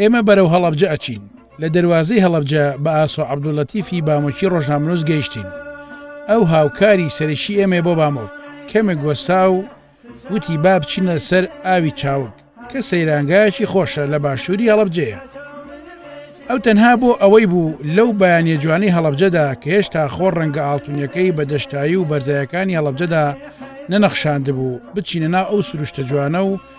ئێمە بەرەو هەڵەبجە ئەچین. لە دەروازەی هەڵەبجە بە ئاسۆ عەبدوللەتیفی بامۆکی ڕۆژنامەنووس گەیشتین. ئەو هاوکاری سەرەکی ئێمەیە بۆ بامۆک. کەمێک وەستا و وتی با بچینە سەر ئاوی چاوگ کە سەیرانگایەکی خۆشە لە باشووری هەڵەبجەیە. ئەو تەنها بۆ ئەوەی بوو لەو بەیانە جوانەی هەڵەبجەدا کە هێشتا خۆ ڕەنگە ئاڵتونیەکەی بە دەشتایی و بەرزایەکانی هەڵەبجەدا نەنەخشاندبوو بچینە ناو ئەو سروشتە جوانە و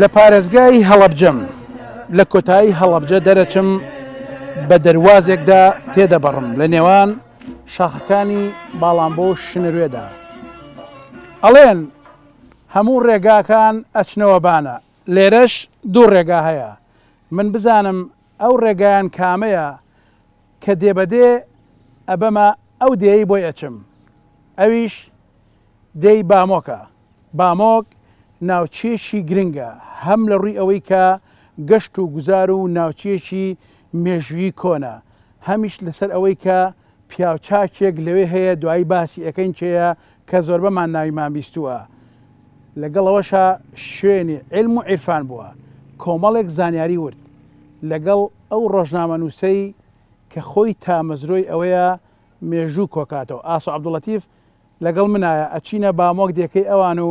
لە پارێزگای هەڵەبجەم لە کۆتایی هەڵەبجە دەرەچم بە دەروازێکدا تێدەبڕم لە نێوان شاخەکانی باڵام بۆ شنروێدا ئەڵێن هەموو ڕێگاکان ئەچنەوە بانە لێرەش دوو ڕێگا هەیە من بزانم ئەو ڕێگایان کامەیە کە دێ بە دێ ئەبەمە ئەو دێیەی بۆی ئەچم ئەویش دێی بامۆکە، بامۆک ناوچەیەکی گرنگە هەم لە ڕووی ئەوەی کە گەشت و گوزار و ناوچەیەکی مێژووی کۆنە هەمیش لەسەر ئەوەی کە پیاوچاکێک لەوێ هەیە دوایی باسی ئەکەین کێیە کە زۆربەمان ناویمان بیستووە، لەگەڵ ئەوەشا شوێنی عیلم و عیرفان بووە، کۆمەڵێک زانیاری ورد لەگەڵ ئەو ڕۆژنامەنووسەی کە خۆی تامەزرۆی ئەوەیە مێژوو کۆکاتەوە، ئاسۆ عەبدولەتیف لەگەڵ منایە، ئەچینە بامۆک دێکەی ئەوان و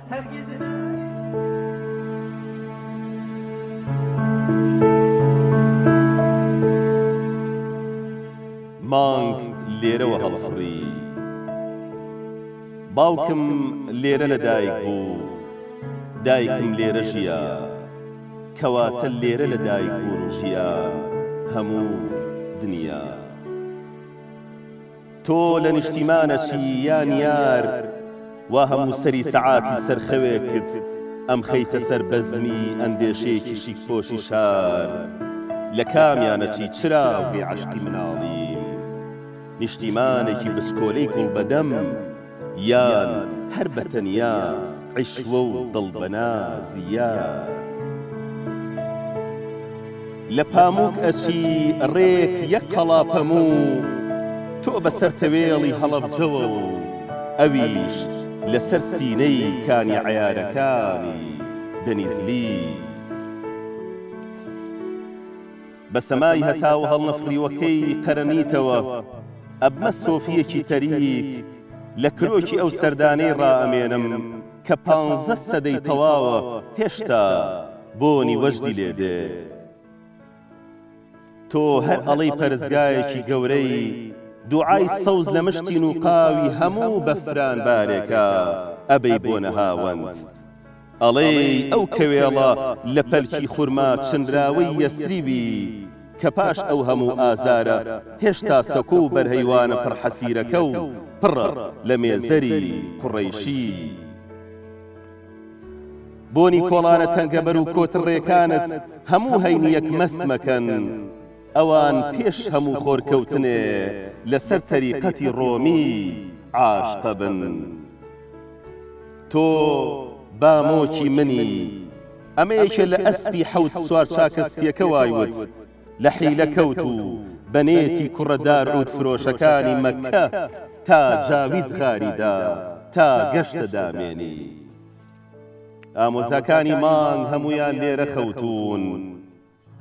مانگ لێرەوە هەڵفڕی. باوکم لێرە لە دایک بوو. دایکم لێرە ژیا. کەواتە لێرە لە دایک بوون و ژیان هەموو دنیا. تۆ لە نیشتیمانە چی یا نیار وا هەموو سەری سەعاتی سەر خەوێکت ئەمخەیتە سەر بەزمی ئەندێشەیەکی شیک پۆشی شار لە کامیانە چی چراوگەی عەشقی مناڵیم نیشتیمانێکی بچکۆلەی گوڵ بەدەم یان هەر بە تەنیا عیشوە و دڵ بە ناز یار. لە پامووک ئەچی ڕێک یەک قەڵا پەموو تۆ بە سەر تەوێڵی هەڵەبجەوە و ئەویش لە سەر سینەی کانی عەیارەکانی دەنیزلیت. بە سەمای هەتا و هەڵنەفڕیوەکەی قەرەمیتەوە ئەبمە سۆفییەکی تەریک، لە کرۆکی ئەو سەردانەی ڕائەمێنم کە پانزە سەدەی تەواوە هێشتا بۆنی وەجدی لێ دێ. تۆ هەر ئەڵێی پەرستگایەکی گەورەی، دوعای سەوز لە مشتی نووقاوی هەموو بەفران بارێکا ئەبەی بۆ نەهاوەند. ئەڵێی ئەو کەوێڵە لە پەلکی خورما چنراوەی یەسریبی کە پاش ئەو هەموو ئازارە هێشتا سەکۆ و بەرهەیوانە پڕ حەسیرەکە و پڕە لە مێزەری قوڕەیشی. بۆنی کۆڵانە تەنگەبەر و کۆترڕێکانت هەموو هەینییەک مەست مەکەن، ئەوان پێش هەموو خۆرکەوتنێ لەسەر تەریقەتی ڕۆمی عاشقە بن. تۆ بامۆکی منی. ئەمە یەکێ لە ئەسپی حەوت سوار چاکە سپیەکە وای وت، لە حیلە کەوت و بە نێتی کوڕە دار عود فرۆشەکانی مەککە تا جاوید غاری دا تا گەشتە دامێنی. ئامۆزاکانی مانگ هەموویان لێرە خەوتوون.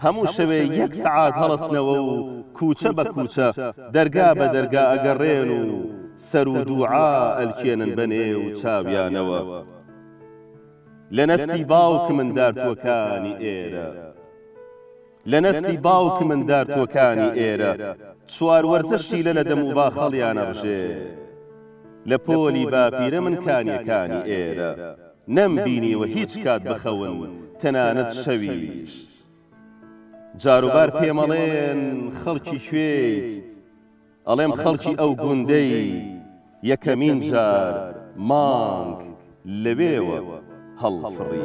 هەموو شەوێ یەک سەعات هەڵەسنەوە و کووچە بە کووچە، دەرگا بە دەرگا ئەگەڕێن و سەر و دووعا ئەلکێنن بە نێو چاویانەوە. لە نەسلی باوکمن دارتووەکانی ئێرە. لە نەسلی باوکمن دارتووەکانی ئێرە، چوار وەرزە شیلە لە دەم و باخەڵیان ئەڕژێ. لە پۆلی باپیرەمن کانیەکانی ئێرە. نەم بینیوە هیچ کات بخەون تەنانەت شەویش جاروبار پێمەڵێن خەڵکی کوێیت ئەڵێم خەڵکی ئەو گوندەی یەکەمین جار مانگ لەوێوە هەڵفڕی.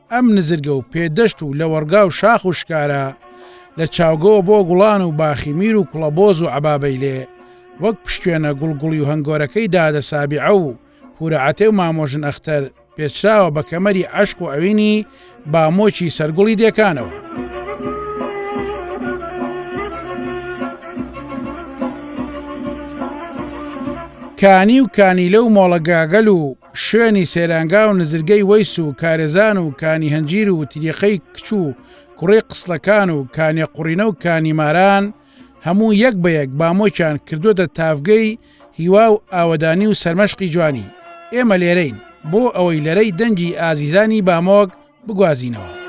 ئەم نزرگە و پێدەشت و لەوەڕگا و شاخ و شکارە، لە چاوگەوە بۆ گوڵان و باخی میر و کوڵەبۆز و عەبابەیلێ، وەک پشتوێنە گوڵگوڵی و هەنگۆرەکەی دادە سابیعە و پوورە عەتێ و مامۆژن ئەختەر، پێچراوە بە کەمەری عەشق و ئەوینی بامۆکی سەرگوڵی دێکانەوە. کانی و کانیلە و مۆڵە گاگەل و. شوێنی سەیرانگا و نزرگەی وەیس و کارێزان و کانی هەنجیر و تریقەی کچ و کوڕی قسڵەکان و کانێ قوڕینە و کانی ماران هەموو یەک بە یەک بامۆکیان کردووەتە تاڤگەی هیوا و ئاوەدانی و سەرمەشقی جوانی ئێمە لێرەین بۆ ئەوەی لەرەی دەنگی ئازیزانی بامۆک بگوازینەوە.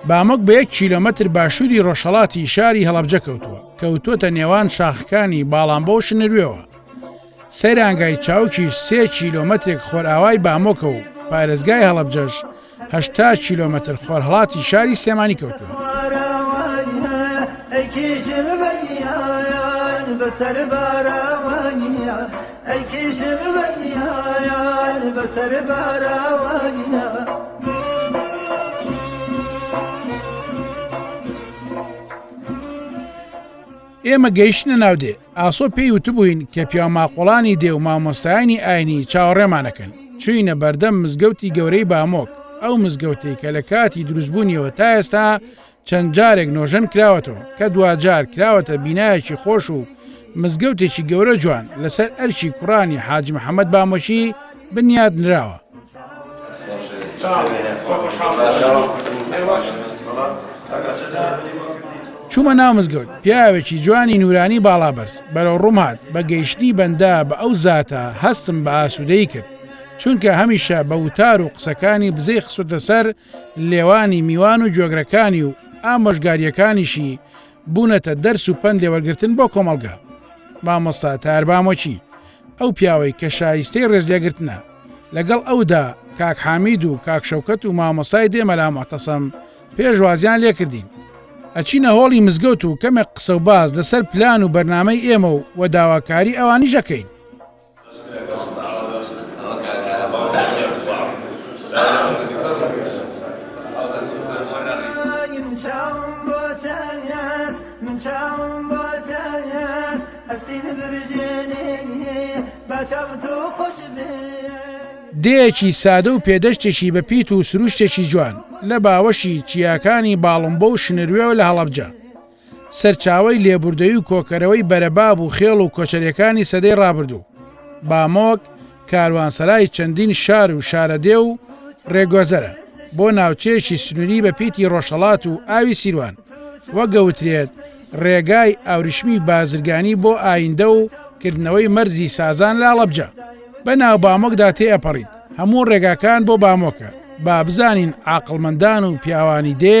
بامک بە یەک کیلۆمەتر باشووری ڕۆژهڵاتی شاری هەڵەبجە کەوتووە کەوتوتە نێوان شاخەکانی باڵام بۆ شنروێەوە سەیرانگای چاوکیش سێ کیلۆمەترێک خۆرئاوای بامۆکە و پارێزگای هەڵەبجەش هەشتا کیلۆمەتر خۆرهەڵاتی شاری سلێمانی کەوتووە. ئێمە گەیشتنە ناو دێ ئاسۆ پێی وتبووین کە پیاوماقوڵانی دێ و مامۆستایانی ئاینی چاوەڕێمان ئەکەن، چووینە بەردەم مزگەوتی گەورەی بامۆک، ئەو مزگەوتەی کە لە کاتی دروستبوونیەوە تا ئێستا چەند جارێک نۆژەن کراوەتەوە، کە دواجار کراوەتە بینایەکی خۆش و مزگەوتێکی گەورە جوان لەسەر ئەرکی کوڕانی حاجی محەمەد بامۆکی، بنیاد نراوە. چوومە ناو مزگەوت، پیاوێکی جوانی نورانی باڵا بەرز بەرەو ڕووم هات، بە گەیشتنی بەندە بە ئەو زاتە هەستم بە ئاسوودەیی کرد، چونکە هەمیشە بە وتار و قسەکانی بزەی خستووتە سەر لێوانی میوان و گوێگرەکانی و ئامۆژگارییەکانیشی بوونەتە دەرس و پەند لێوەرگرتن بۆ کۆمەڵگا. مامۆستا تایەر بامۆکی، ئەو پیاوەی کە شایستەی ڕێزلێگرتنە لەگەڵ ئەودا کاک حامید و کاک شەوکەت و مامۆستای دێ مەلا مەعتەسەم پێشوازیان لێکردین ئەچینە هۆڵی مزگەوت و کەمێک قسە و باز لەسەر پلان و بەرنمەی ئێمە و و داواکاری ئەوانی ژەکەین دێیەکی سادە و پێدەشتێکی بە پیت و سروشتێکی جوان لە باوەشی چیاکانی باڵمبۆ و شنروێوە لە هەڵەبجە سەرچاوی لێبوردەوی و کۆکەرەوەی بەرەباب و خێڵ و کۆچەرەکانی سەدەی ڕابردوو بامۆک کاروانسەرای چەندین شار و شارەدێ و ڕێگۆزەرە بۆ ناوچەیەکی سنووری بە پیتی ڕۆژهڵات و ئاوی سیروان وەگەوترێت ڕێگای ئاوریشمی بازرگانی بۆ ئایندە و کردنەوەی مەرزی سازان لە ئەڵەبجە بە ناو بامۆکدا تێئەپەڕیت هەموو ڕێگاکان بۆ بامۆکە با بزانین عقلمەندان و پیاوانی دێ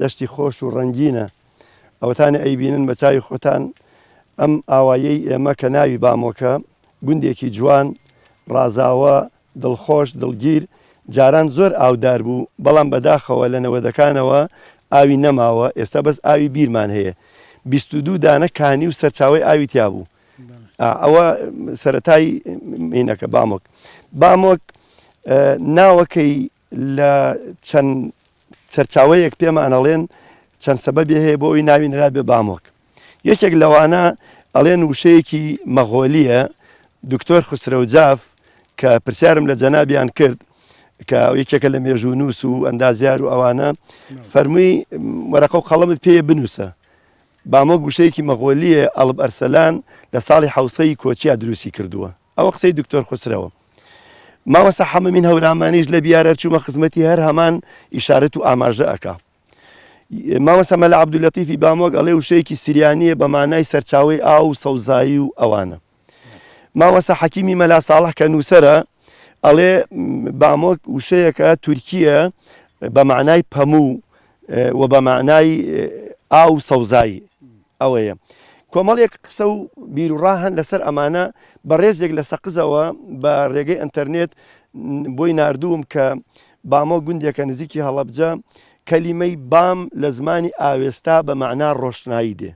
دەشتی خۆش و ڕەنگینە ئەوەتانە ئەیبینن بە چاوی خۆتان ئەم ئاوایەی ئێمە کە ناوی بامۆکە گوندێکی جوان ڕازاوە دڵخۆش دڵگیر جاران زۆر ئاودار بوو بەڵام بەداخەوە لە نەوەدەکانەوە ئاوی نەماوە ئێستا بەس ئاوی بیرمان هەیە بیست و دوو دانە کانی و سەرچاوی ئاوی تیا بوو ئەوە سەتای مینەکە بامۆک بامۆک ناوەکەی لە چەند سەرچاوەیەک پێمان ئەڵێن چەند سەبەبی هەیە بۆ ئەوی ناوی نرابێ بامۆک یەکێک لەوانە ئەڵێن وشەیەکی مەغۆلیە دکتۆر خسرەوجاف کە پرسیارم لە جەنابیان کرد کە یەکێکە لە مێژوو نووس و ئەندازیار و ئەوانە فەرمووی وەرەقە و قەڵمت پێ بنووسە بامۆک وشەیەکی مەغۆلیە ئەڵب ئەرسەلان لە ساڵی حوسەی کۆچیا دروستی کردووە ئەوە قسەی دکتۆر خوسرەوە مامەسا حەمەمین هەورامانیش لە بیارە چوومە خزمەتی هەر هەمان ئیشارەت و ئاماژە ئەکا مامەسا مەلا عبدولەتیفی بامۆک ئەڵێ وشەیەکی سریانیە بە مانای سەرچاوی ئاو و سەوزایی و ئەوانە مامەسا حەکیمی مەلا ساڵح کە نووسرە ئەڵێ بامۆک وشەیەکە تورکیە بە مانای پەموو و بە مانای ئاو سەوزایی ئەوەیە کۆمەڵێک قسە و بیروڕا هەن لەسەر ئەمانە بەڕێزێک لە سەقزەوە بە ڕێگەی ئەتەرنێت بۆی نردووم کە بامۆ گوندێکە نزیکی هەڵەبجە کەلیمەی بام لە زمانی ئاوێستا بە مەعنا ڕۆشنایی دێ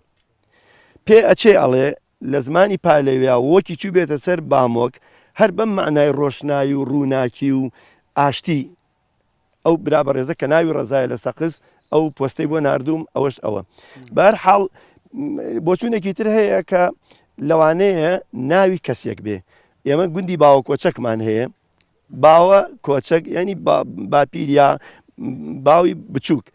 پێ ئەچێ ئەڵێ لە زمانی پالەویا وەکی چوو بێتە سەر بامۆک هەر بەم معنای ڕۆشنایی و ڕووناکی و ئاشتی ئەو برا بەڕێزە کە ناوی ڕزایە لە سەقز ئەو پۆستەی بۆ نردوم ئەوەش ئەوە بار حاڵ بۆچوونێکی تر هەیە کە لەوانەیە ناوی کەسێک بێ ئێمە گوندی باوە کۆچەکمان هەیە باوە کۆچەک ینی باپیریا باوی بچووک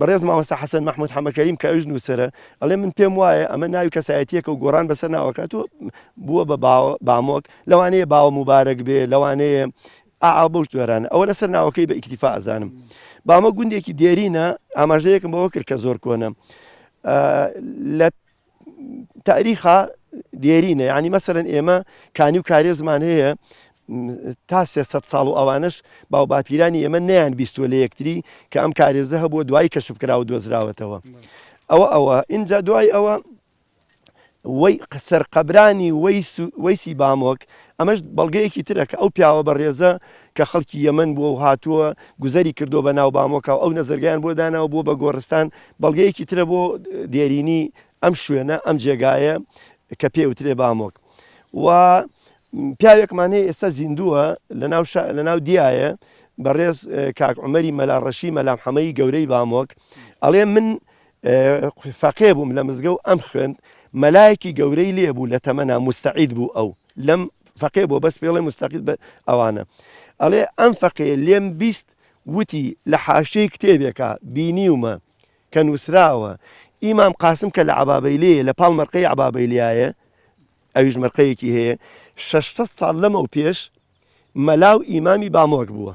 بەڕێز ماوەستا حەسەن مححمود حەمەکەریم کە ئەوش نووسرە ئەڵێ من پێم وایە ئەمە ناوی کەسایەتیەکە و گۆران بەسەر ناوەکات و بووە بە بامۆک لەوانەیە باوە مبارەک بێ لەوانەیە ئاا بەو جۆرانە ئەوە لەسەر ناوەکەی بە ئیکتیفا ئەزانم بامە گوندێکی دێرینە ئاماژەیەکم بەوە کرد کە زۆر کۆنە لە تاریخا دێرینە ینی مەسەرەن ئێمە کانی و کارێزمان هەیە تا سێ ساڵ و ئەوانش باو باپیرانی ئێمە نیان بیستوە لە یەکتری کە ئەم کارێزە هەبووە دوای کەشفکرا و دۆزراوەتەوە ئەوە ئەوە اینجا دوای ئەوە سەرقەبرانی وەیسی بامۆک، ئەمەش بەڵگەیەکی ترە کە ئەو پیاوە بەڕێزە کە خەڵکی یەمەن بووە و هاتووە گوزەری کردووە بە ناو بامۆکا و ئەو نەزەرگەیان بۆ داناوە بووە بە گۆڕستان، بەڵگەیەکی ترە بۆ دێرینی ئەم شوێنە، ئەم جێگایە کە پێی ئەوترێ بامۆک و پیاوێکمان هەیە ئێستا زیندووە لە ناو دیایە بەڕێز کاک عومەری مەلا ڕەشی مەلامحەمەی گەورەی بامۆک ئەڵێ من فەقێ بووم لە مزگەو ئەم خوێند مەلایەکی گەورەی لێ بوو لە تەمەنا موستەعید بوو ئەو لەم فەقێ بۆ بەس پێڵێ مستەقید بە ئەوانە ئەڵێ ئەم فەقێ لێم بیست وتی لە حاشیەی کتێبێکا بینیومە کە نووسراوە ئیمام قاسم کە لە عبابەیلەیە لە پاڵ مەرقەی عبابەیلیایە ئەویش مەرقەیەکی هەیە 600 ساڵ لەمەو پێش مەلا و ئیمامی بامۆک بووە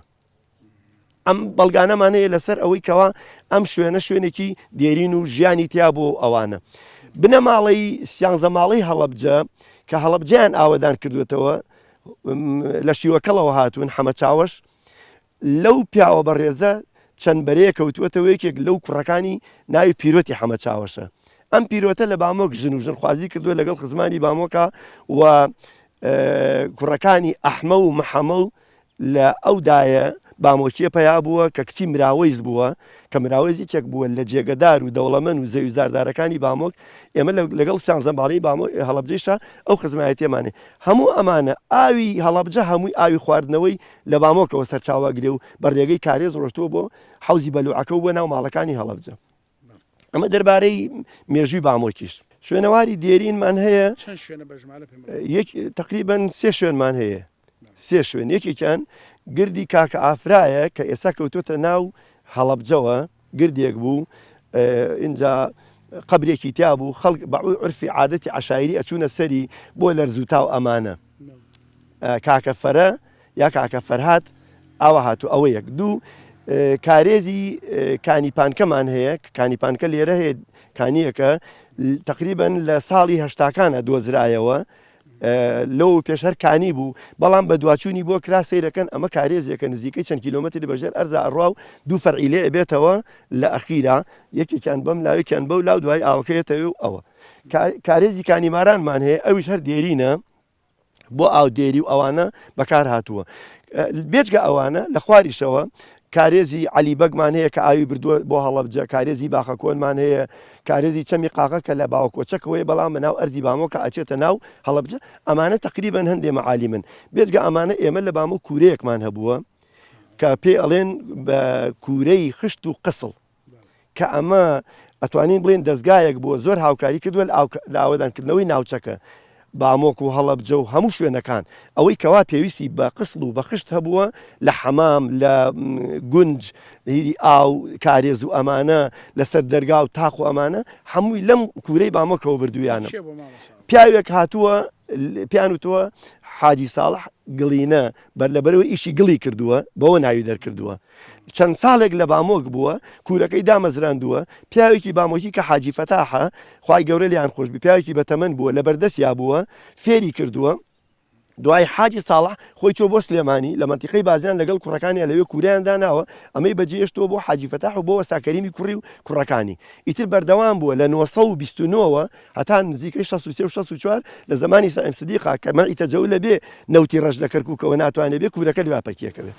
ئەم بەڵگانەمانەیە لەسەر ئەوەی کەوا ئەم شوێنە شوێنێکی دێرین و ژیانی تیا بۆ ئەوانە بنەماڵەی سیانزەماڵی هەڵبجە کە هەڵبجیان ئاوەدان کردوێتەوە لە شیوەکەڵەوە هاتوون حەمە چاوەش لەو پیاوە بەڕێزە چەند بەرەیە کەوتوەتەوە یەکێک لەو کوڕەکانی ناوی پیرۆتی حەمە چاوەشە ئەم پیرۆتە لە بامۆک ژن و ژن خوازی کردووە لەگەڵ خزمانی بامۆکە و کوڕەکانی ئەحمە و محەمە و لە ئەو دایە بامۆکیە پەیا بووە کە کچی مراوەیز بووە، کە مراوەیز یەکێک بووە لە جێگە دار و دەوڵەمەن و زەوی زاردارەکانی بامۆک، ئێمە لە لەگەڵ سیانزە باڵەی بامۆ هەڵەبجەیشا ئەو خزمایەتیەمان هەیە. هەموو ئەمانە ئاوی هەڵەبجە هەمووی ئاوی خواردنەوەی لە بامۆکەوە سەرچاوە ئەگرێ و بە رێگەی کارێز رۆشتووە بۆ حەوزی بەلوعەکە و بۆ ناو ماڵەکانی هەڵەبجە. ئەمە دەربارەی مێژووی بامۆکیش شوێنەواری دێرینمان هەیە تقریبن سێ شوێنمان هەیە سێ شوێن یەکێکیان گردی کاکە ئافرایە کە ئێستا کەوتۆتە ناو هەڵبجەوە گردێک بوو اینجا قبرێکی تیا بوو خەڵک بەعوی عرفی عادەتی عشاعری ئەچوونە سەری بۆ لەرزوتا و ئەمانە کاکە فەرە یا کاکە فەرهاد ئاوا هاتوو ئەوە یەک دوو کارێزی کانی پانکەمان هەیە کانی پانکە لێرە هەیە کانیەکە تقریبن لە ساڵی هەشتاکانە دۆزرایەوە لەو پێشەر کانی بوو بەڵام بە دواچوونی بۆ کرا سیرەکەن ئەمە کارێزیەکە نزیکەی چەند کیلومتری بەژێر ئەرزا ئەڕوا و دوو فەرعیلێ بێتەوە لە ئەخیرا یەکێکیان بەم لاوێکیان بەو لاو دوای ئاوکەێتەوە و ئەوە کارێزی کانیمارانمان هەیە ئەویش هەر دێرینە بۆ ئاودێری و ئەوانە بەکار هاتووە بێجگە ئەوانە لە خواریشەوە کارێزی علی بەگمان هەیە کە ئاوی بردووە بۆ هەڵەبجە کارێزی باخە کۆنمان هەیە کارێزی چەمی قاقە کە لە باوکۆچەکەوەی بەڵام بە ناو ئەرزی بامۆکە ئەچێتە ناو هەڵەبجە ئەمانە تقریبان هەندێ معالی من بێجگە ئەمانە ئێمە لە بامۆ کورەیەکمان هەبووە کە پێ ئەڵێن بە کورەی خشت و قسڵ کە ئەمە ئەتوانین بڵێین دەزگایەک بووە زۆر هاوکاری کردووە لە ئاوەدانکردنەوەی ناوچەکە، بامۆک و هەڵەبجە و هەموو شوێنەکان، ئەوەی کەوا پێویستی بە قسڵ و بە خشت هەبووە لە حەمام، لە گونج، هیری ئاو، کارێز و ئەمانە، لەسەر دەرگا و تاق و ئەمانە، هەمووی لەم کوورەی بامۆکەوە بردوویانم. پیاوێک هاتووە پێیان وتووە حاجی ساڵح گڵینە، لەبەرئەوەی ئیشی گڵی کردووە بەوە ناوی دەرکردووە. چەند ساڵێک لە بامۆک بووە کورەکەی دامەزراندووە، پیاوێکی بامۆکی کە حاجی فەتاحە، خوای گەورە لێیان خۆش بی، پیاوێکی بە تەمەن بووە لە بەردەستیا بووە فێری کردووە، دوای حاجی ساڵح خۆی چووە بۆ سلێمانی لە مەنتیقەی بازیان لەگەڵ کوڕەکانیا لەوێ کورەیان داناوە، ئەمەی بەجێهێشتووە بۆ حاجی فەتاح و بۆ وەستا کەریمی کوڕی و کوڕەکانی ئیتر بەردەوام بووە لە نۆ سەد و بیست و نۆ وە هەتا نزیکەی شەست و سێ و شەست و چوار لە زەمانی سەعیم سدیقا کە مەنعی تەجەول ئەبێ نەوتی ڕەش لە کەرکوکەوە ناتوانێ بێ کورەکە لوا پەکی ئەکەوێ.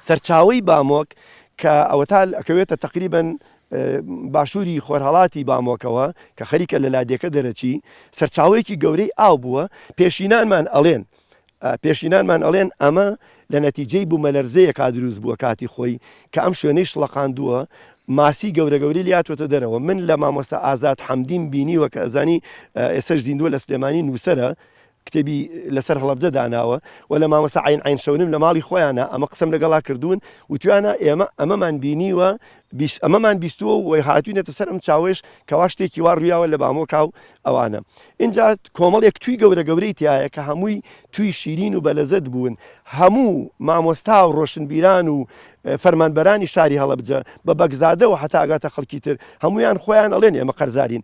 سەرچاوەی بامۆک کە ئەوەتا ئەکەوێتە تەقریبەن باشووری خۆرهەڵاتی بامۆکەوە کە خەریکە لە لادێکە دەرەچی، سەرچاوەیەکی گەورەی ئاو بووە، پێشینانمان ئەڵێن پێشینانمان ئەڵێن ئەمە لە نەتیجەی بوومەلەرزەیەکا دروست بووە کاتی خۆی کە ئەم شوێنەی شڵەقاندووە، ماسی گەورە گەورەی لێ هاتووەتە دەرەوە، من لە مامۆستا ئازاد حەمدیم بینیوە کە ئەزانی ئێستەش زیندووە لە سلێمانی نووسەرە، کتێبی لەسەر هەڵەبجە داناوە و لە مامۆستا عەین عەین شەونم لە ماڵی خۆیانا ئەمە قسەم لەگەڵا کردوون وتویانە ئێمە ئەمەمان بینیوە بیست ئەمەمان بیستووە و هاتوینەتە سەر ئەم چاوەیش کەوا شتێکی وا ڕویاوە لە بامۆکا و ئەوانە ئینجا کۆمەڵێک توی گەورە گەورەی تایە کە هەمووی توی شیرین و بەلەزەت بوون هەموو مامۆستا و ڕۆشنبیران و فەرمانبەرانی شاری هەڵەبجە بە بەگزادەوە هەتا ئەگاتە خەڵکی تر هەمویان خۆیان ئەڵێن ئێمە قەرزارین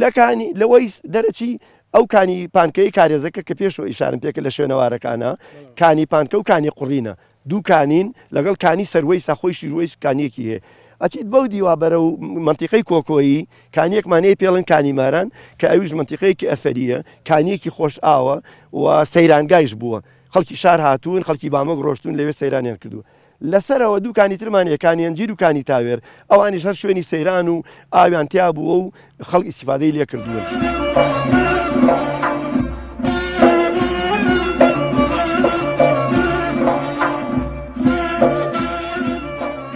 لە کانی لوەیس دەرەچی، ئەو کانی پانکەیەی کارێزەکە کە پێشەوە ئیشارەم پێکرد لە شوێنەوارەکانە، کانی پانکە و کانی قوڕینە، دوو کانین، لەگەڵ کانی سەروەیسا، خۆیشی روەیس کانییەکی هەیە. ئەچیت بەو دیوە بەرەو مەنتیقەی کۆکۆیی، کانییەکمان هەیە پێڵێن کانی ماران، کە ئەویش مەنتیقەیەکی ئەسەرییە، کانییەکی خۆشئاوە و سەیرانگایش بووە، خەڵکی شار هاتوون، خەڵکی بامۆک رۆشتوون لەوێ سەیرانیان کردووە. لە سەرەوە دوو کانی ترمان هەیە، کانی ئەنجیر و کانی تاوێر، ئەوانیش هەر شوێنی سەیران و ئاویان تیا بووە و خەڵک ئیستیفادەی لێ کردوون.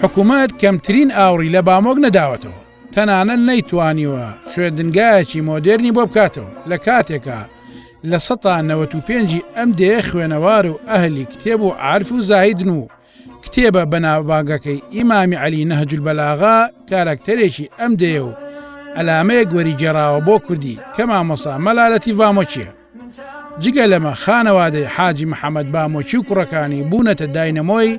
حکومەت کەمترین ئاوڕی لە بامۆک نەداوەتەوە تەنانەت نەیتوانیوە خوێندنگایەکی مۆدێرنی بۆ بکاتەوە لە کاتێکا لە سەتا نەوەت و پێنجی ئەم دێیە خوێنەوار و ئەهلی کتێب و عارف و زاهیدن و کتێبە بەناوبانگەکەی ئیمامی عەلی نەهج البەلاغە کاراکتەرێکی ئەم دێیە و ئەلامەیەک وەریگێڕاوە بۆ کوردی کە مامۆسا مەلا لەتیف بامۆچیە جگە لەمە خانەوادەی حاجی محەممەد بامۆچی و کوڕەکانی بوونەتە داینەمۆی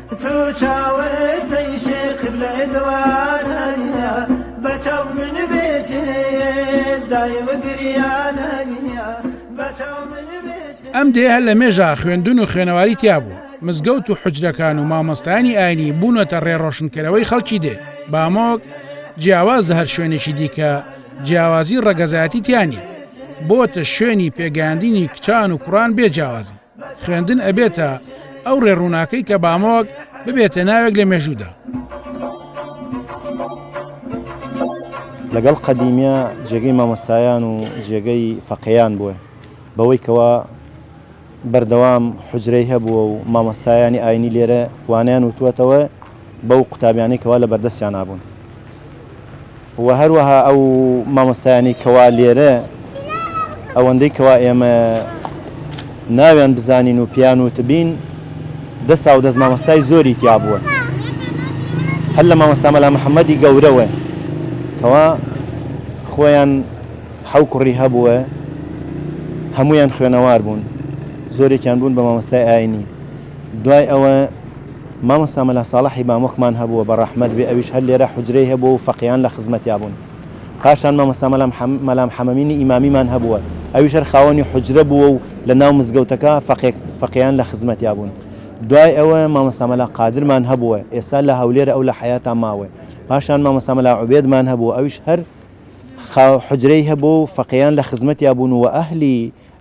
ئەم دێ هەر لە مێژە خوێندون و خوێنەواری تیا بوو مزگەوت و حجرەکان و مامۆستانی ئاینی بوونەتە ڕێڕۆشنکەرەوەی خەڵکی دێ بامۆک جیاواز هەر شوێنێکی دیکە جیاوازی ڕەگەزایەتی تیانی بۆتە شوێنی پێگەاندنی کچان و کوڕان بێ جیاوازی خوێندن ئەبێتە ئەو ڕێ ڕووناکەی کە بامۆک ببێتە ناوێک لە مێژوودا. لەگەڵ قەدیمیا جێگەی مامۆستایان و جێگەی فەقەیان بووە بەوەی کەوا بەردەوام حجرەی هەبووە و مامۆستایانی ئاینی لێرە وانیان وتووەتەوە بەو قوتابیانەی کەوا لە بەردەستیانا بوون و هەروەها ئەو مامۆستایانی کەوا لێرە ئەوەندەی کەوا ئێمە ناویان بزانین و پیان و تبین دە ساو دەست مامۆستای زۆری تیا بووە هەر لە مامۆستامەلا محەممەدی گەورەوە کەوا خۆیان حەو کوڕی هەبووە هەمویان خوێنەوار بوون زۆرێکیان بوون بە مامۆستای ئاینی دوای ئەوە مامۆستا مەلا ساڵحی مامۆکمان هەبووە بە ڕەحمەت بێ ئەویش هەر لێرە حوجرەی هەبووە و فەقێیان لە خزمەتیا بوون پاشان مامۆستا مەلا محەم مەلا محەمەمینی ئیمامیمان هەبووە ئەویش هەر خاوەنی حوجرە بووە و لە ناو مزگەوتەکە فەقێک فەقێیان لە خزمەتیا بوون دوای ئەوە مامۆستا مەلا قادرمان هەبووە ئێستا لە هەولێرە ئەو لە حەیاتا ماوە پاشان مامۆستا مەلا عوبێدمان هەبووە ئەویش هەر خا حوجرەی هەبووە و فەقێیان لە خزمەتیا بوون و ئەهلی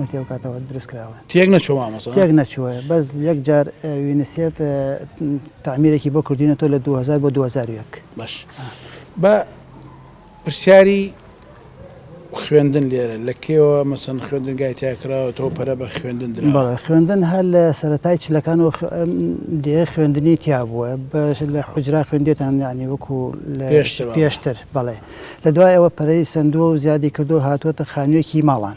مەتێو کاتەوە دروست کراوە تێک نەچوە تێک نەچوە بەس یەک جار وینسیێف تعمیرێکی بۆ کردینە تۆ لە 2000 بۆ 2001 باش بە پرسیاری خوێندن لێرە لە کێوە مەسن خوێندن گایتیاکراوە تۆ پەرە بە خوێندن درا خوێندن هەر لە سەتای چلەکان و دێ خوێندنی تیا بووە بەش لە حجرا خوێندێتان ینی وەکو پێشتر بەڵێ لە دوای ئەوە پەرەی سەندووە و زیادی کردووە هاتووەتە خانوویەکی ماڵان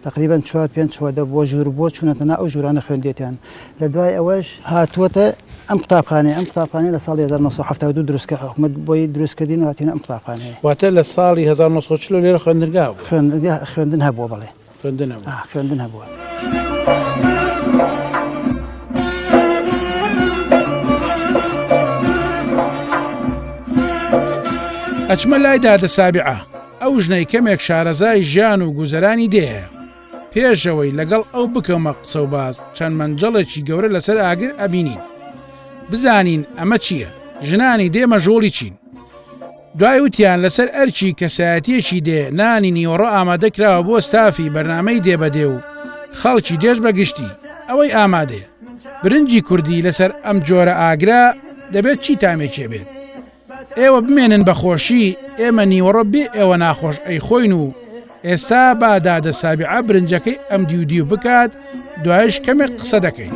تەقریبەن چوار پێنج چوادە بووە ژوور بووە چوونەتە ناو ئەو ژوورانە خوێندوێتیان لە دوای ئەوەش هاتووەتە ئەم قوتابخانەیە ئەم قوتابخانەیە لە ساڵی هەزار و نۆ سەد و حەفتا و دوو دروست کرا حکومەت بۆی دروست کردین و هاتینە ئەم قوتابخانەیە. واتە لە ساڵی هەزار و نۆ سەد و چل لێرە خوێندنگا هەبوو؟ خوێندنگا خوێندن هەبووە بەڵێ. خوێندن هەبووە. ئا خوێندن هەبووە. ئەچمە لای دادە سابعە ئەو ژنەی کەمێک شارەزای ژیان و گوزەرانی دێهەیە پێشەوەی لەگەڵ ئەو بکەمە قسە و باز چەند مەنجەڵێکی گەورە لەسەر ئاگر ئەبینین بزانین ئەمە چییە ژنانی دێمە ژۆڵی چین دوای وتیان لەسەر ئەرکی کەسایەتیەکی دێ نانی نیوەڕۆ ئامادە کراوە بۆ ستافی بەرنامەی دێ بە دێ و خەڵکی دێش بە گشتی ئەوەی ئامادەیە برنجی کوردی لەسەر ئەم جۆرە ئاگرە دەبێت چی تامێکێ بێت ئێوە بمێنن بە خۆشی ئێمە نیوەڕۆ بێ ئێوە ناخۆش ئەی خۆین و ئێستا با دادە سابعە برنجەکەی ئەم دیو دیو بکات دوایش کەمێک قسە دەکەین.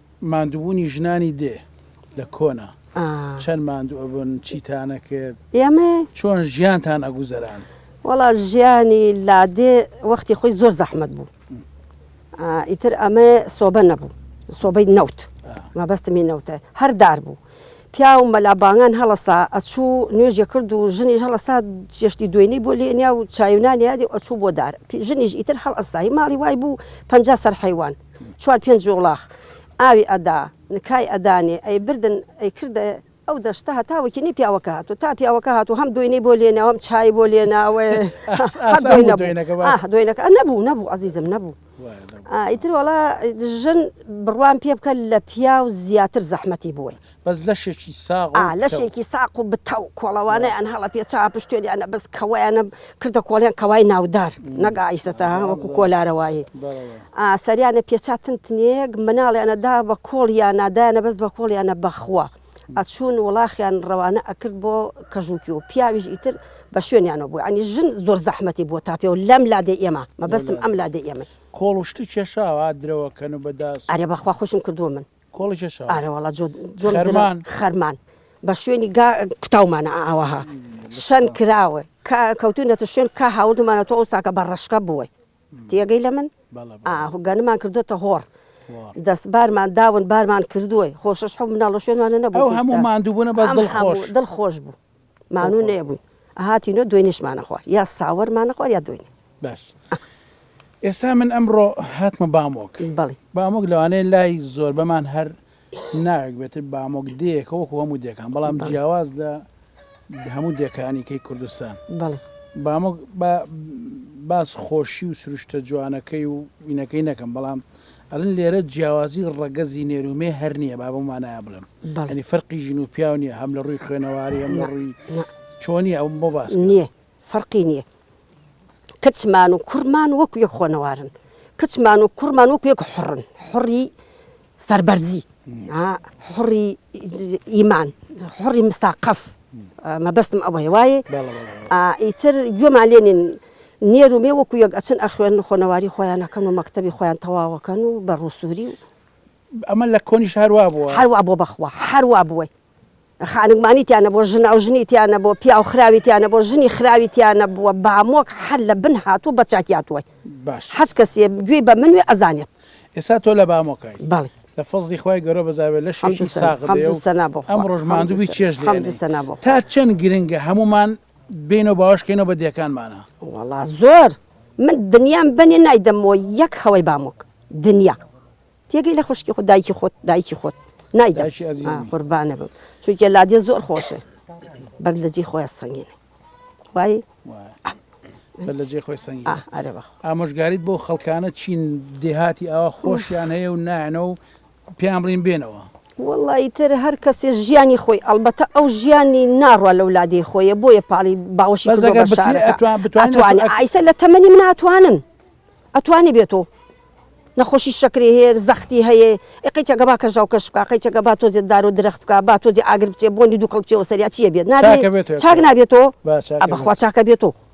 ماندوبونی ژنانی دێ لە کۆنا چەند ماندو ئەبن چیتان ئەکرد چۆن ژیانتان ئەگوزەران؟ وەڵا ژیانی لادێ وەختی خۆی زۆر زەحمەت بوو ئیتر ئەمە سۆبە نەبوو سۆبەی نەوت مەبەستمی نەوتە هەر دار بوو پیاو مەلا بانگان هەڵسا ئەچوو نوێژە کرد و ژنی هەڵسا جێشتی دوێنی بۆ لێنیا و چاوینان یادی ئەچوو بۆ دار ژنیش ئیتر هەڵ ئەسایی ماڵی وای بوو پ سەر حیوان چوار پێنج یوڵاخ ئاوی ئەدا، نکای ئەدانێ، ئەیبردن ئەیکردە ئەو دەشتە هەتا وەکینەی پیاوەکە هاتوو، تا پیاوەکە هاتوو هەم دۆینەی بۆ لێناو هەم چایی بۆ لێناوێ هەر دۆی نەبوو دۆینەکە با ئاه دۆینەکە نەبوو نەبوو عەزیزم نەبوو وایە نەبوو ئیتر وەڵا ژن بڕوام پێ بکە لە پیاو زیاتر زەحمەتی بووی. بەس لەشێکی ساغ و پتەو. لەشێکی ساق و بتەو کۆڵەوانیان هەڵە پێ چا پشتێنیانە بەس کەوەیانە کردە کۆڵیان کەوای ناودار نەک ئایسەتە ها وەکو کۆلارەوایی ئا سەریانە پێ چا تن تنێک مناڵیانە دا بە کۆڵیانە دایانە بەس بە کۆڵیانە بەخوا ئەچوون وڵاخیان ڕەوانە ئەکرد بۆ کەژوکی و پیاویش ئیتر بە شوێنیانەوە بوو ئەنی ژن زۆر زەحمەتی بۆ تاپێ و لەم لادێ ئێمە مەبەستم ئەم لادێ ئێمە کۆڵ و شتی کێشاوە ها درەوە کەن و بە داس. ئەرێ بەخوا خوشم کردووە من. ئارەوەڵا جۆمان خەرمان بە شوێنی گا کوتاومانە ئاوەها شەن کراوە کەوتونەتە شوێن کا هاوردمانە تۆ ئەوساکە بە ڕشکە بووە تێگەی لە من ئاهگەنمان کردوتە هۆڕ دەست بارمان داون بارمان کردووە خۆشش حو مناڵە شوێنوانە نەبوو هەموو مادووبوون بە دڵ خۆش بوو. مانوو نەیەبووین ئەهاتینۆ دوێنیشمانە خوارد یا ساوەرمانە خوارد یا دوێنێ باش ئێسا من ئەمڕۆ هاتمە بامۆک بەڵی بامۆک لەوانەیە لای زۆربەمان هەر ناوێک بێت بامۆک دێکە وەکو هەموو دێکان بەڵام بەڵێ. جیاواز لە هەموو دێکانی کەی کوردستان بەڵێ بامۆک با باس خۆشی و سروشتە جوانەکەی و وینەکەی نەکەم بەڵام ئەڵێن لێرە جیاوازی ڕەگەزی نێر و مێ هەر نییە با بەو مانایە بڵێم یانی فەرقی ژن و پیاو نییە هەم لە ڕووی خوێنەواری هەم لە ڕووی چۆنی ئەوم بۆ باس کرد. نییە فەرقی نییە کچمان و کوڕمان وەکو یەک خۆنەوارن کچمان و کوڕمان وەکو یەک حڕن حڕی سەربەرزی حڕی ئیمان حڕی مساقەف مەبەستم ئەوەیە وایە بەڵێ بەڵێ ئیتر گوێمان لێ نین نێر و مێ وەکو یەک ئەچن ئەخوێنن و خۆنەواری خۆیان ئەکەن و مەکتەبی خۆیان تەواو ئەکەن و بە ڕووسووری و. ئەمە لە کۆنیش هەر وا بووە؟ هەر وا بووە بەخوا هەر وا بووە. خانگمانی تیا نەبووە، ژناوژنی تیا نەبووە، پیاوخراوی تیا نەبووە، ژنی خراوی تیا نەبووە، بامۆک هەر لە بن هاتووە بە چاکی هاتووە. باشە. هەچ کەسێ گوێی بە منوێ ئەزانێت. ئێستا تۆ لە بامۆکای. بەڵێ. لە فەزڵی خوای گەورە بەزار بێت لەشێکی ساغ بێ و ئەمڕۆش ماندوو بی چێژ لێ ئەنێی. تا چەند گرنگە هەموومان بێینەوە باوەش کەینەوە بە دێکانمانە. وەڵا زۆر من دنیام بەنێ نایدەمۆ یەک خەوەی بامۆک دنیا تێگەی لە خوشکی خۆ دایکی خۆت دایکی خۆت نایدە قوربانە بم چونکە لادێ زۆر خۆشە بەر لە جێ خۆیان سەنگێنێ وای لە جێ خۆی سەنگ ئامۆژگاریت بۆ خەڵکانە چین دێهاتی ئاوا خۆشیان هەیە و نایەنە و پێیان بڵین بێنەوە. وەڵا ئیتر هەر کەسێ ژیانی خۆی ئەڵبەتە ئەو ژیانی ناڕوا لەو لادێی خۆیە بۆیە پاڵی باوەشی بەس کردوە ئەگەر بە بتری شارەکە ئەتوان بتوانین ئەتوانی ئەتو- ئەت- ئایسە لە تەمەنی من ئەتوانن ئەتوانی بێتۆ نەخۆشی شەکرەی هەیە زەختی هەیە ئێ قەیچەکە با کەژاو کەش بکا قەیچەکە با تۆزێ دار و درەخت بکا با تۆزێ ئاگر بچێ بۆنی دوکەڵ بچێ وە سەریا چییە بێت نابێ چاکە بێت چاک نابێتۆ با چاکە ئە بە خوا بێت. چاکە بێتۆ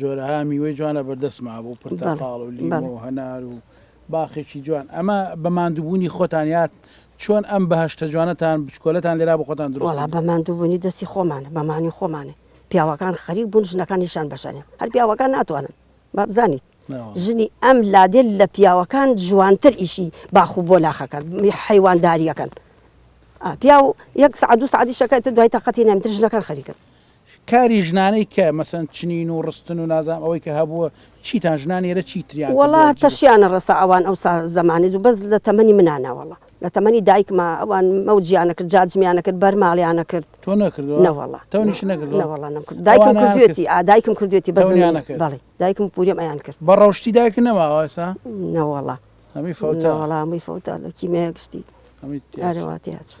جۆرەها میوەی جوان لە بەردەست مابوو پرتەقاڵ و لیمۆ و هەنار و باخێکی جوان ئەمە بە ماندووبوونی خۆتان یاد چۆن ئەم بەهشتە جوانەتان بچکۆلەتان لێرا بۆ خۆتان دروڵا بە ماندووبوونی دەستی خۆمان بەمانی خۆمانێ پیاوەکان خەریک بوون ژنەکانیشان بەشانێ هەر پیاوەکان ناتوانن بابزانیت ژنی ئەم لادێل لە پیاوەکان جوانتر ئیشی باخ و بۆ ناخەکەن حیوانداریەکەن پیاو یەک سعدو سعدی شەکەت دوای تاقەتی نامتر ژنەکان خەریکن کاری ژنانەی کە مەسەن چنین و ڕستن و نازام ئەوەی کە هەبووە چیتان ژنان ئێرە چی تریان وەڵا تەشیانە ڕەسا ئەوان ئەوسا زەمانی زوو بەس لە تەمەنی منانە وەڵا لە تەمەنی دایکما ئەوان مەوجیانە کرد جاجمیانە کرد بەرماڵیانە کرد تۆ نەکردوە نەوەڵا تەونیش نەکرد نەوەڵا نەم کرد دایکم کردوێتی دایکم کردوێتی بەزنیانە کرد بەڵێ دایکم پوریەم ئەیان کرد بە ڕەوشتی دایک نەماوەسا نەوەڵا هەمی فەوتەوەڵامی فەوتە لە کیمێ گشتی ئەرەوە تێچوو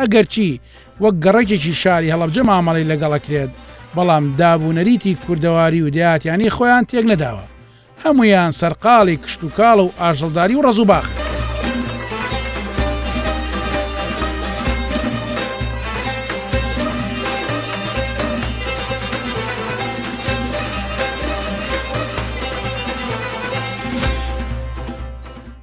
ئەگەرچی وەک گەڕەکێکی شاری هەڵەبجە مامەڵەی لەگەڵ ئەکرێت، بەڵام داب و نەریتی کوردەواری و دەیهاتیانی خۆیان تێک نەداوە، هەموویان سەرقاڵی کشتوکاڵ و ئاژەڵداری و ڕەز و باخن.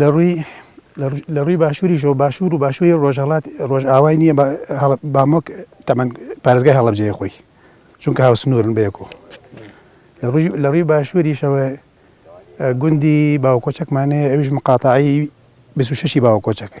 لەڕووی لەڕووی باشووریشەوە باشوور و باشووری ڕۆژهەڵات ڕۆژئاوای نییە بامۆک تەمەن پارێزگای هەڵەبجەیە خۆی چونکە هاوسنوورن بەیەکۆ لەڕووی باشووریشەوە گوندی باوکۆچەکمانەیە ئەویش مقاتعی بسوشەشی باوە کۆچەکە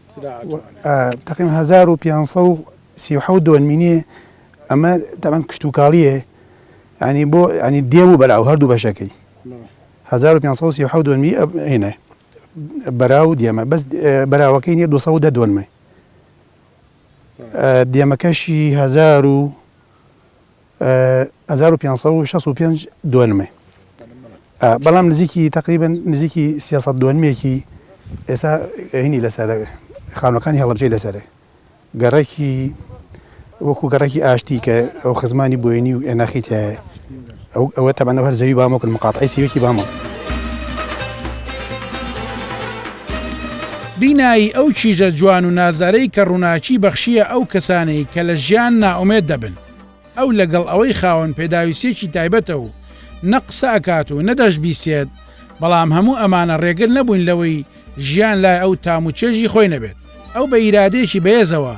تەقریبەن هەزار و پێنج سەد و سی و حەوت دۆن مینێ ئەمە تەبەن کشتتوکاڵیە ینی بۆ ینی دێم و بەراو هەردوو بەشەکەی 1530 دۆنمی هێنێ بەرا و دێمە بەس بەراوەکەی نیە 200 دۆنمە دێمەکەشی هزار و هەزار و پێنج سەد و شەست و پێنج دۆنمێ بەڵام نزیکی تقریبن نزیکی سیاست دۆنمێکی ئێستا هینی لەسەر خانەکانی هەڵبجەی لەسەرێ گەڕێکی وەکو گەڕێکی ئاشتی کە ئەو خزمانی بۆینی و ئێناخی تایە ئەو ئەوە تەبەنە هەر زەوی بامۆکن مقاتعی سیوەکی بامۆ بینایی ئەو کیژە جوان و نازدارەی کە ڕووناکی بەخشیە ئەو کەسانەی کە لە ژیان نائومێد دەبن. ئەو لەگەڵ ئەوەی خاوەن پێداویستیەکی تایبەتە و نە قسە ئەکات و نە دەشبیسێت، بەڵام هەموو ئەمانە ڕێگر نەبووین لەوەی ژیان لای ئەو تام و چێژی خۆی نەبێت. ئەو بە ئیرادەیەکی بەێزەوە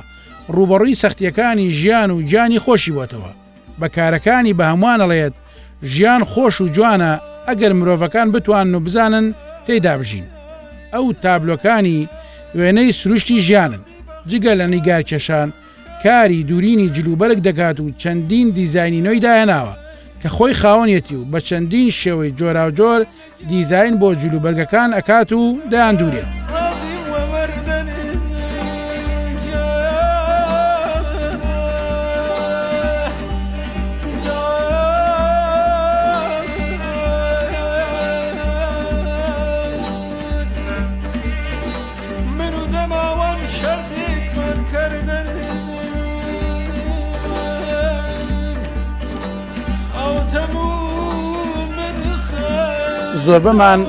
ڕووبەڕووی سەختیەکانی ژیان و گیانی خۆشی بۆتەوە. بە کارەکانی بە هەمووان ئەڵێت ژیان خۆش و جوانە ئەگەر مرۆڤەکان بتوانن و بزانن تێیدا بژین. ئەو تابلۆکانی وێنەی سروشتی ژیانن. جگە لە نیگارکێشان کاری دوورینی جلوبەرگ دەکات و چەندین دیزاینی نوێی داهێناوە کە خۆی خاوەنیەتی و بە چەندین شێوەی جۆراوجۆر دیزاین بۆ جلوبەرگەکان ئەکات و دەیاندورێت. زۆربەمان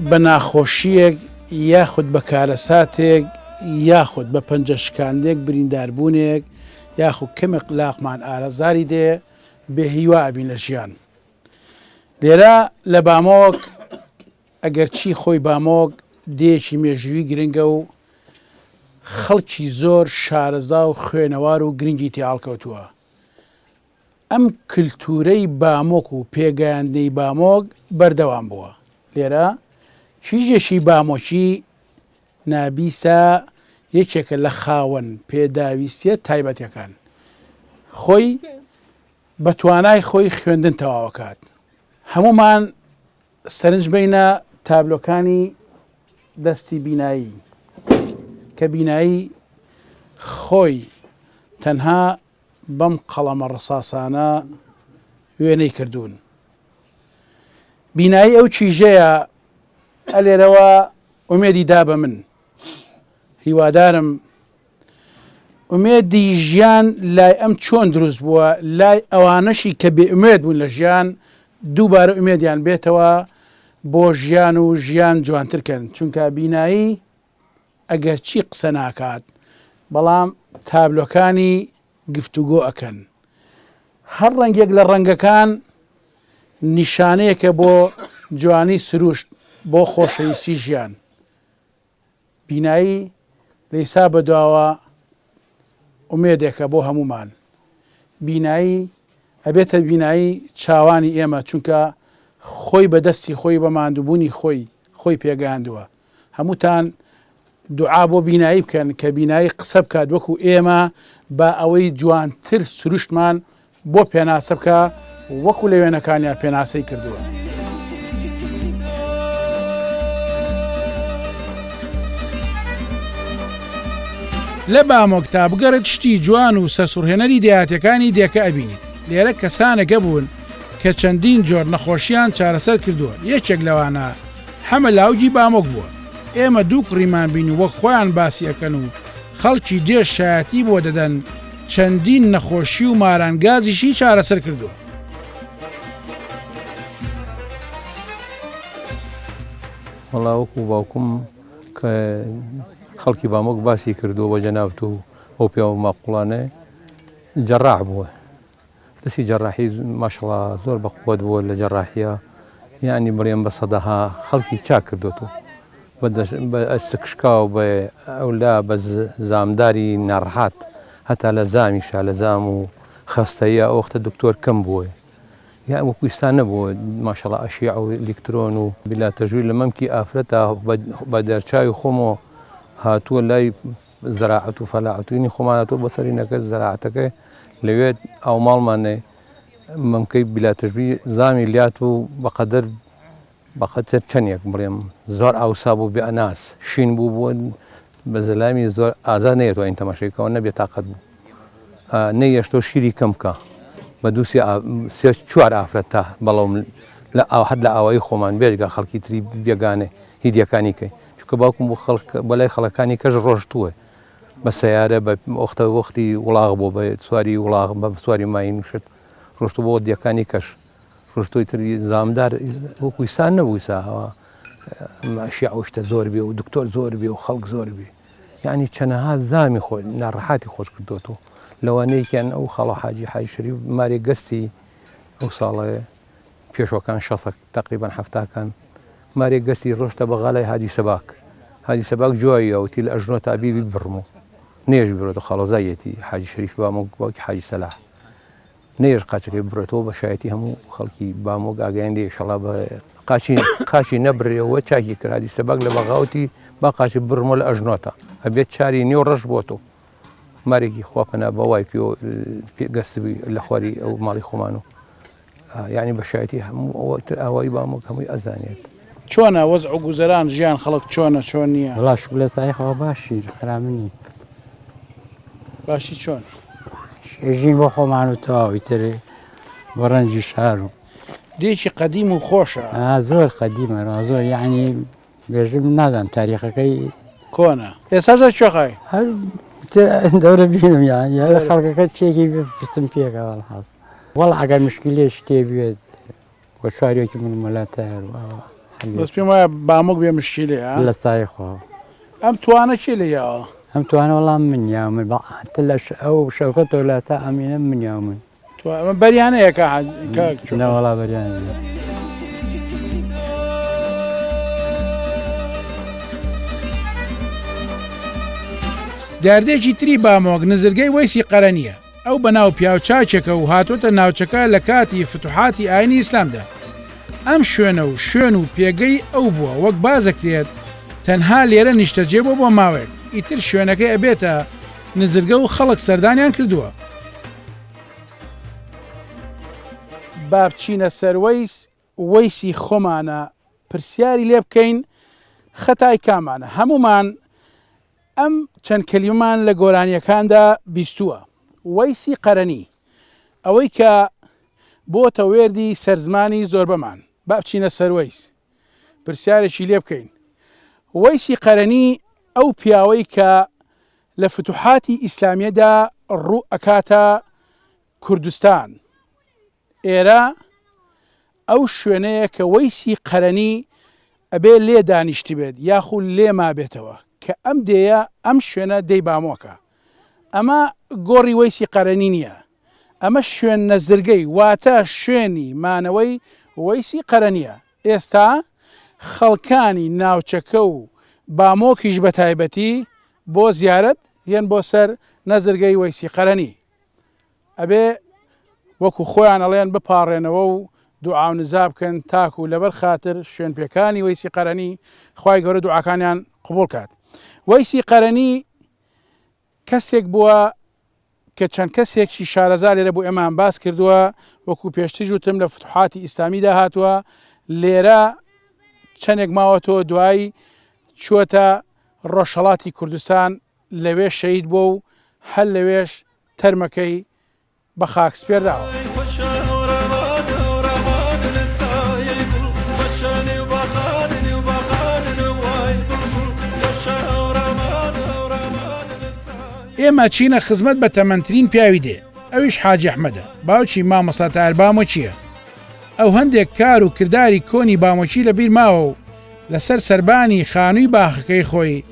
بە ناخۆشییەک یاخود بە کارەساتێک یاخود بە پەنجە شکاندێک برینداربوونێک یاخود کەمێ قلاقمان ئارەزاری دێ بێهیوا ئەبین لە ژیان لێرە لە بامۆک ئەگەرچی خۆی بامۆگ دێیەکی مێژووی گرنگە و خەڵکی زۆر شارەزا و خوێنەوار و گرنگی تێ هەڵکەوتووە، ئەم کلتوورەی بامۆک و پێگەیاندنەی بامۆگ بەردەوام بووە. لێرە کیژێکی بامۆکی نابیسا یەکێکە لە خاوەن پێداویستییە تایبەتەکان، خۆی بە توانای خۆی خوێندن تەواو ئەکات. هەموومان سەرنج بەینە تابلۆکانی دەستی بینایی کە بینایی خۆی تەنها بەم قەڵەمە ڕساسانە وێنەی کردوون بینایی ئەو چیژەیە ئەلێرەوە ئومێدی دا بە من هیوادارم ئومێدی ژیان لای ئەم چۆن دروست بووە، لای ئەوانەشی کە بێ ئومێد بوون لە ژیان دووبارە ئومێدیان بێتەوە بۆ ژیان و ژیان جوانتر کەن چونکە بینایی ئەگەرچی قسە ناکات بەڵام تابلۆکانی گفتوگۆ ئەکەن هەر ڕەنگێک لە ڕەنگەکان نیشانەیەکە بۆ جوانی سروشت بۆ خۆشەویستی ژیان بینایی لیسا بەدواوە ئومێدێکە بۆ هەموومان. بینایی ئەبێتە بینایی چاوانی ئێمە چونکە خۆی بە دەستی خۆی بە ماندووبوونی خۆی خۆی پێگەیاندووە. هەمووتان دوعا بۆ بینایی بکەن کە بینایی قسە بکات وەکو ئێمە با ئەوەی جوانتر سروشتمان بۆ پێناسە بکە وەکو لە وێنەکانیا پێناسەی کردووە. لە بامۆکتا بگەڕێت شتی جوان و سەرسوڕهێنەری دەیاتەکانی دێکە ئەبینیت لێرە کەسانەکە بوون کە چەندین جۆر نەخۆشیان چارەسەر کردووە یەکێک لەوانە حەمە لاوجی بامۆک بووە ئێمە دوو کوڕیمان بین و وەک خۆیان باسیەکەن و خەڵکی دێش شایەتی بۆ دەدەن چەندین نەخۆشی و ماران گازیشی چارەسەر کردووە. وەڵا وەکو باوکم کە خەڵکی بامۆک باسی کردووە بە جەنابەت و ئەو پیاوە ماقوڵانێ جەڕاح بووە دەستی جەراحی ماشەڵا زۆر بە قوەت بووە لە جەراحیە یعنی بڕێن بە سەدەها خەڵکی چاک کردوێت و بە ئەسکشکاو بە ئەولا بە زامداری ناڕحات هەتا لە زامی شا لە زام و خەستەیە ئەوختە دکتۆر کەم بووە یا وەکویستان نەبوو ماشەڵا ئەشی ئەو لکترۆن و بلا تەژووی لە مەمکی ئافرەتا بە دەرچوی خۆمەوە هاتووە لای زەراعەت و فەلاعەتوینی خۆمانە تۆ بەسەری نەکرد زەراعەتەکە لەوێت ئەو ماڵمانێ مەمکەی بلاتشبی زامی لات و بەقەدەر بەخەتە چەندێک بڵێم زۆر ئاوسا بوو بێ ئەناس شین بوو بووە بە زەلامی زۆر ئازا نێت ئەوین تەماشێکەوە نەبێ تااقەت بوو نەیەشتۆ شیری کەمکە بە دوو سێ چوار ئافرەت تا بەڵام لە ئاو حد لە ئاوایی خۆمان بێژگە خەڵکی تری بێگانێ هیدیەکانی کەی چونکە باوکم بۆ خەڵک بە لای خەڵەکانی کەش ڕۆشتووە بە سیارە بە ئۆختە وەختی وڵاغ بۆ بە سواری وڵاغ بە سواری ماین شت ڕۆشتو بۆ دیەکانی کەش ڕۆشتۆی تری زامدار وەکویسان نەبوویسا هەوا ماشی ئەوشتە زۆر بێ و دکتۆر زۆر بێ و خەڵک زۆر بێ یعنی چەنەها زامی خۆ ناڕەحاتی خۆش کردوەوە لەوانەیەکیان ئەو خاڵە حاجی حای شەری مارێ گەستی ئەو ساڵە پێشەکان شەسەک تەقریبەن حەفتاکان مارێک گەستی ڕۆشتە بەغا لای هادی سەباک. هادی سەباک جوابی ئەوتی لە ئەژنۆ تا بی بیبڕم و نێژ ببرێتەوە خاڵۆزاییەتی حاجی شەریفی بامۆک باوکی حاجی سەلاح. نێژ قاچەکەی ببڕێتەوە بە شایەتی هەموو خەڵکی بامۆک ئاگایان لێ ئیشەڵا بە قاچی قاچی نەبرێەوە چاکی کرد هادی سەباک لە بەغاوتی با قاچی ببڕمەوە لە ئەژنۆ تا ئەبێت چاری نێو ڕەش بۆتۆ. مارێکی خوا پەنا بە وای پێوە پێ گەستبی لە خواری ئەو ماڵی خۆمان و یعنی بە شایەتی هەموو ئەوە تر ئاوایی بامۆک هەمووی ئەزانێت. چۆنە وەزع و گوزەران ژیان خەڵک چۆنە چۆن نیە. وەڵا شکر لە سایەی خوا باشین خراپ نین. باشی چۆن؟ ئێژین بۆ خۆمان و تەواو ئیتر بۆ ڕەنجی شار و. دێکی قەدیم و خۆشە. ئا زۆر قەدیمە ڕا زۆر یعنی بێژم نازان تاریخەکەی کۆنە ئێستا زۆر چۆخای هەر دەورە بینم یان لە خەڵکەکە چێکی پستم پێکە هەڵحاز وەڵ ئەگەر مشکی لێ شتێ بێت وە چوارێکی من مەلا تایار بەس پێم وایە بامۆک بێ مشکی لێ لە سای خۆ ئەم توانە چی لە یاوە ئەم توانە وەڵام من یاوە من بە لەش ئەو شەوکە تۆ لە تا ئەمینە من یاوە من تۆ ئەمە بەریانەیە کە نەوەڵا بەریان دیاردێکی تری بامۆک نزرگەی وەیسی قەرە نییە ئەو بەناو پیاوچاکێکە و هاتۆتە ناوچەکە لە کاتی فتوحاتی ئاینی ئیسلامدا ئەم شوێنە و شوێن و پێگەی ئەو بووە وەک بازەکرێت تەنها لێرە نیشتەجێ بۆ بۆ ماوەیەک ئیتر شوێنەکەی ئەبێتە نزرگە و خەڵک سەردانیان کردووە با بچینە سەر وەیس وەیسی خۆمانە پرسیاری لێ بکەین خەتای کامانە هەمومان ئەم چەند کەلیمان لە گۆرانیەکاندا بیستووە وەیسی قەرەنی ئەوەی کە بۆتە وێردی سەرزمانی زۆربەمان با بچینە سەر وەیس پرسیارێکی لێ بکەین وەیسی قەرەنی ئەو پیاوەی کە لە فتوحاتی ئیسلامیەدا ڕو ئەکاتە کوردستان ئێرە ئەو شوێنەیە کە وەیسی قەرەنی ئەبێ لێ دانیشتبێت یاخو لێ مابێتەوە کە ئەم دێیە ئەم شوێنە دێی بامۆکە ئەمە گۆڕی وەیسی قەرەنی نیە ئەمە شوێن نەزرگەی واتە شوێنی مانەوەی وەیسی قەرەنیە ئێستا خەڵکانی ناوچەکە و بامۆکیش بە تایبەتی بۆ زیارەت یەن بۆ سەر نەزرگەی وەیسی قەرەنی ئەبێ وەکو خۆیان ئەڵێن بپاڕێنەوە و دوعا و نزا بکەن تاکو لەبەر خاتر شوێن پێکانی وەیسی قەرەنی خوای گەورە دوعاکانیان قبوڵ کات وەیسی قەرەنی کەسێک بووە کە چەند کەسێکی شارەزا لێرە بۆ ئێمەیان باس کردووە، وەکوو پێشتریش وتم لە فتوحاتی ئیسلامیدا هاتووە، لێرە چەندێک ماوەتەوە دوایی چووەتە ڕۆژهەڵاتی کوردستان لەوێ شەهید بووە و هەر لەوێش تەرمەکەی بە خاک سپێرداوە. ئێمە چینە خزمەت بە تەمەنترین پیاوی دێ، ئەویش حاجی ئەحمەدە، باوکی مامۆستا تاهر بامۆکییە. ئەو هەندێک کار و کرداری کۆنی بامۆکی لە بیر ماوە و لە سەر سەربانی خانووی باخەکەی خۆی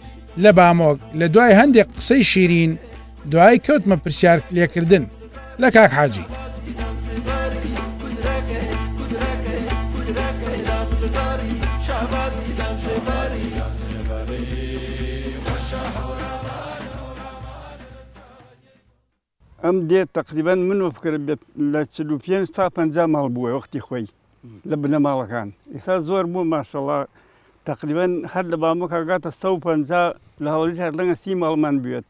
لە بامۆک لە دوای هەندێک قسەی شیرین، دوایی کەوتمە پرسیار لێکردن لە کاک حاجی. ئەم دێت تقریبان من وە بکرێت لە 45 تا 50 ماڵ بووە وەختی خۆی لە بنەماڵەکان ئێستا زۆر بوو ماشەڵا تقریبان هەر لە بامۆکگاتە 150 لە هەوڵی هەر لەگە سی ماڵمان بوێت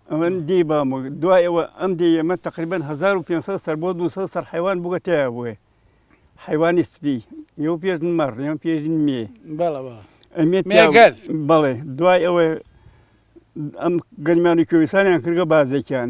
ئەمن دی بامۆ دوایەوە ئەم دی ئێمە تقریبان 1500 سەر بۆ 200 سەر حیوان بگە تیا بووێ حیوانی سپی یو پێش مەڕ یان پێش مێ بەڵێ دوای ئەوە ئەم گەرمانی کوردستانیان کردگە بازێکیان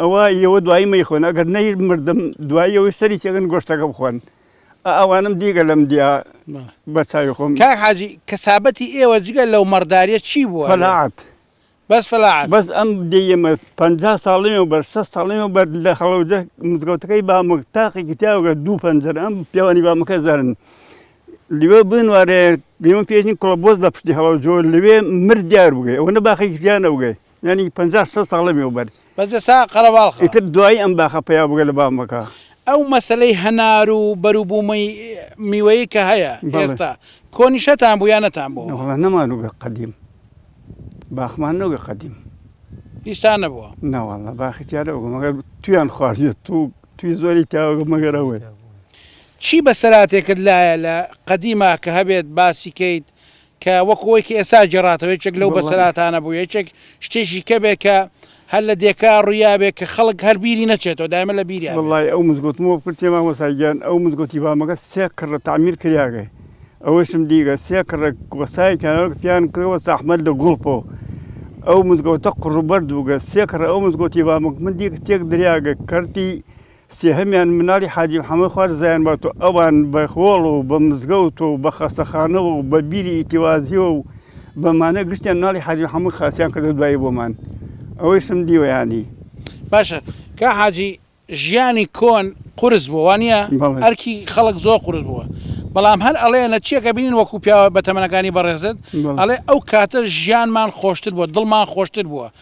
ئەوە یەوە دوایی مەیخۆن ئەگەر نەی مردم دوایی یەوەی سەری تێگەن گۆشتەکە بخۆن ئەوانم دیگە لەم دیا بە چاوی خۆم کاک حاجی کەسابەتی ئێوە جگە لەو مەڕداریە چی بووە فەلاعەت بەس فەلاعەت بەس ئەم دێی ئێمە پەنجا ساڵی وەبەر شەست ساڵی وەبەر لە هەڵەوجە مزگەوتەکەی بامک تاقێکی تیاوگە دوو پەنجەر ئەم پیاوانی بامەکە زەرن لەوێ بنوارێ گەیمە پێشین کوڵە بۆز لە پشتی هەڵەوجۆ لەوێ مرد دیار بگەی ئەوە نە باخێکی تیا نەبگەی یانی پەنجا شەست ساڵ لەمێوبەر. بەس ئێستا قەرەباڵخە. ئیتر دوایی ئەم باخە پەیا بگە لە بام بکە. ئەو مەسەلەی هەنار و بەروبوومەی میوەیی کە هەیە ئێستا، کۆنیشتان بوو یا نەتان بۆوە؟ وەڵا نەمانووگە قەدیم. باخمان نەوگە قەدیم. هیچتان نەبووە؟ نا وەڵا باخی تیا نەوگە مەگەر تویان خواردوێت تو توی زۆری تاوەگە مەگەر ئەوەی. چی بەسەراتێکت لایە لە قەدیما کە هەبێت باسی کەیت کە وەکو ئەوەی کە ئێستا گێڕاتەوە یەکێک لەو بەسەرهاتانە بوو، یەکێک شتێکی کەبێ کە هەر لە دێکا ڕوویابێ کە خەڵک هەر بیری نەچێتەوە، دایمە لە بیریا بێ. وەڵڵاهی ئەو مزگەوتم بۆ بکردتێ مامۆستا گیان، ئەو مزگەوتی بامەکە سێ کڕە تەعمیر کریاگە، ئەوەیشم دیگە سێ کڕە گۆسایەکیانەوە کە پێیان کردووە ساحمەت لە گوڵپۆ، ئەو مزگەوتە قڕوبەرد بووگە، سێ کڕە ئەو مزگەوتی بامەکە من دیگە تێک دریاگە کەرتی، سێهەمیان مناڵی حاجی محەمەد خوار زایان بات و ئەوان بە هۆڵ و بە مزگەوت و بە خەستەخانەوە و بە بیری ئیتیوازییەوە و بە مانە گشتیان مناڵی حاجی محەمەد خاسیان کردە دوایی بۆمان. ئەوەیشم دیوە یانی. باشە کا حاجی ژیانی کۆن قورس بووە وا نیە؟ بەڵێ. ئەرکی خەڵک زۆر قورس بووە. بەڵام هەر ئەڵێ لە چیەک ئەبینین وەکوو پیاوە بەتەمەنەکانی بەڕێزت بەڵێ. ئەڵێ ئەو کاتە ژیانمان خۆشتر بووە، دڵمان خۆشتر بووە.